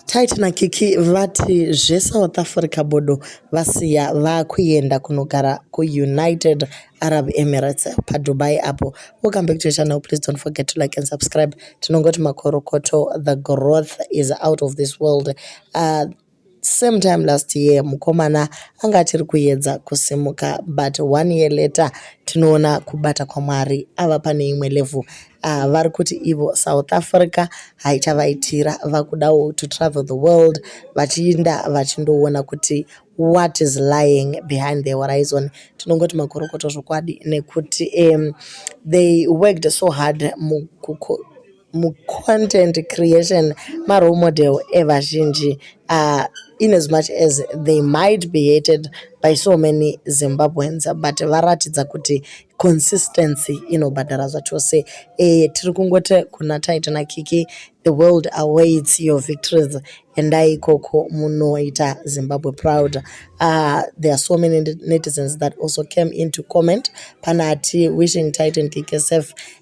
Titan Kiki vati zveSouth Africa bodo vasiya vakuenda kunogara kuUnited Arab Emirates paDubai apo. We'll come back to the channel. Please don't forget to like and subscribe. Tinongoti makorokoto, the growth is out of this world. Uh, same time last year mukomana anga achiri kuyedza kusimuka but one year later tinoona kubata kwamwari ava pane imwe level uh, ah, vari kuti ivo south africa haichavaitira vakudawo to travel the world vachiinda vachindoona kuti what is lying behind the horizon tinongoti makorokoto zvokwadi nekuti um, they worked so hard mukuko mucontent creation marole model evazhinji uh, in as much as they might be hated by so many zimbabweans but varatidza kuti consistency inobhadhara zvachose e, eh, tiri kungoti kuna taita nakiki the world awaits your victories endai ikoko munoita zimbabwe proud uh, there are so many netizens that also came into comment pana ati wishing titan kiki safe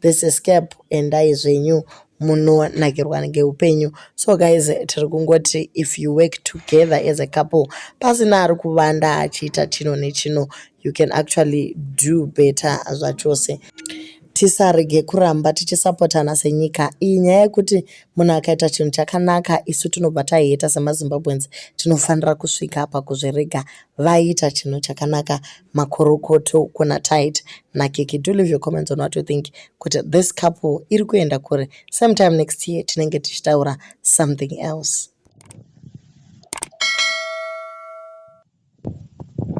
this is cap endai zvenyu munonakirwa ngeupenyu so guys tiri kungoti if you work together as a couple pasina ari kuvanda achiita chino nechino you can actually do better zvachose tisarege kuramba tichisapotana senyika iyi nyaya yekuti munhu akaita chinhu chakanaka isu tinobva taheta semazimbabweans tinofanira kusvika pakuzvirega vaiita chinhu chakanaka makorokoto kuna tight nakiki do leave your comments on what you think kuti this couple iri kuenda kure same time next year tinenge tichitaura something else